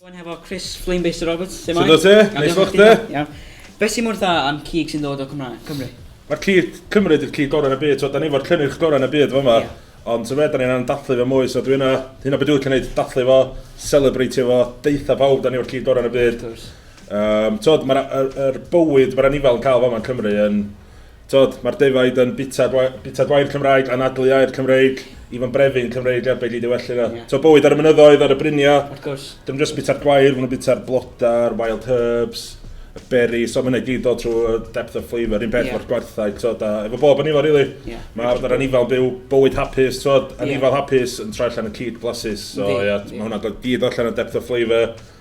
Rwy'n hefo Chris Flamebaster Roberts. Sut o te? Neis fo chdi? Iawn. Be sy'n mor dda am cig sy'n dod o Cymraeg, Cymru? Mae'r cig Cymru ydy'r cig gorau yn y byd. So, da ni fo'r cynnyrch gorau yn y byd fo yma. Yeah. Ond so fe, da ni'n dathlu fe mwy. So dwi yna, hyn o beth dwi'n licio gwneud, dathlu fo, celebreitio fo, deitha pawb, da ni fo'r cig gorau yn y byd. Um, tod, mae'r er, er bywyd, mae'r anifail yn cael fo yma yn Cymru yn, Tod, mae'r defaid yn bita, gwa, bita gwair Cymraeg, anadlu air Cymreig, i fo'n brefu'n Cymreig er beth i ddiwellu na. Yeah. Tod, bywyd ar y mynyddoedd, ar y briniau. Of course. Dim just bita'r gwair, maen nhw'n bita'r blodau, wild herbs, y berry, so mae'n gyd o trwy y depth of flavour, un peth yeah. o'r gwarthau, tod, a efo bob anifail, really. Yeah. Mae arfer anifail byw bywyd hapus, tod, anifail yeah. hapus yn troi allan y cyd blasus, so ie, yeah, yeah. mae hwnna'n gyd allan o depth of flavour,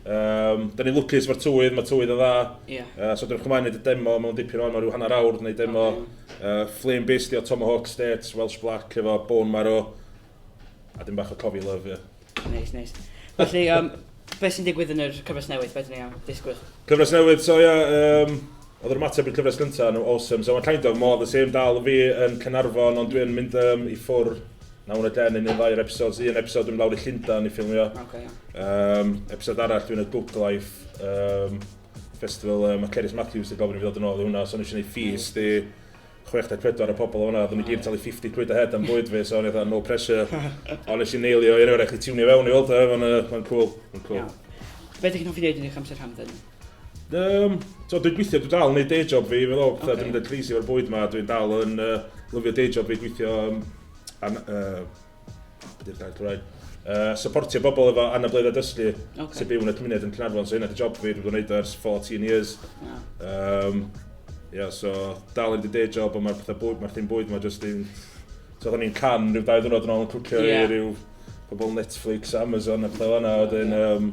Um, da ni'n lwcus mae'r tywydd, mae tywydd yn dda. Yeah. Uh, so dwi'n chymain wneud y demo mewn dipyn o yma, rhyw hanner awr wneud demo. Okay. Uh, Flame Beast, o Tomahawk State, Welsh Black, efo Bone Marrow. A dim bach o Cofi Love, ie. Yeah. Neis, nice, neis. Nice. Felly, um, beth sy'n digwydd yn yr cyfres newydd? Beth ni'n am? Disgwyl. Cyfres newydd, so ia, yeah, um, Oedd yr ymateb i'r cyfres gynta yn awesome. So mae kind of more the same dal yn fi yn Caernarfon ond dwi'n mynd um, i ffwr na hwn y den yn un ddau'r episodes. Un episod dwi'n lawr i Llundan i ffilmio. Okay, yeah. um, episod arall dwi'n y Book Life um, Festival. Um, mae Cerys Matthews yn gofyn i fi ddod yn ôl i hwnna. So o'n eisiau gwneud ffys di 64 o pobl o'na. Oedden ni gyd talu 50 quid a head am bwyd fi. So o'n eithaf no pressure. Ond nes i neilio i enw rhaid chi tiwnio fewn i weld. Mae'n cool. Mae'n cool. Yeah. Fe ydych chi'n hoffi wneud yn eich amser hamdden? Um, so, dwi'n gweithio, dwi'n dal yn neud day job fi, fel o, okay. dwi'n mynd yn crazy o'r bwyd ma, dwi'n dal yn uh, lyfio day job fi, gweithio um, an, uh, beth yw'r gair Cymraeg? Uh, supportio bobl efo anabledda dysgu okay. sy'n byw yn y cymuned yn Cynarfon, so hynna di job fi, dwi'n gwneud ers 14 years. Yeah. Um, yeah, so dal yn dy day job, ond mae'r pethau bwyd, mae'r thing bwyd ma jyst yn... So, oedden ni'n can rhyw dau ddwrnod yn ôl yn cwcio yeah. i rhyw pobl Netflix, Amazon a pethau fanna, yeah. wedyn... Um,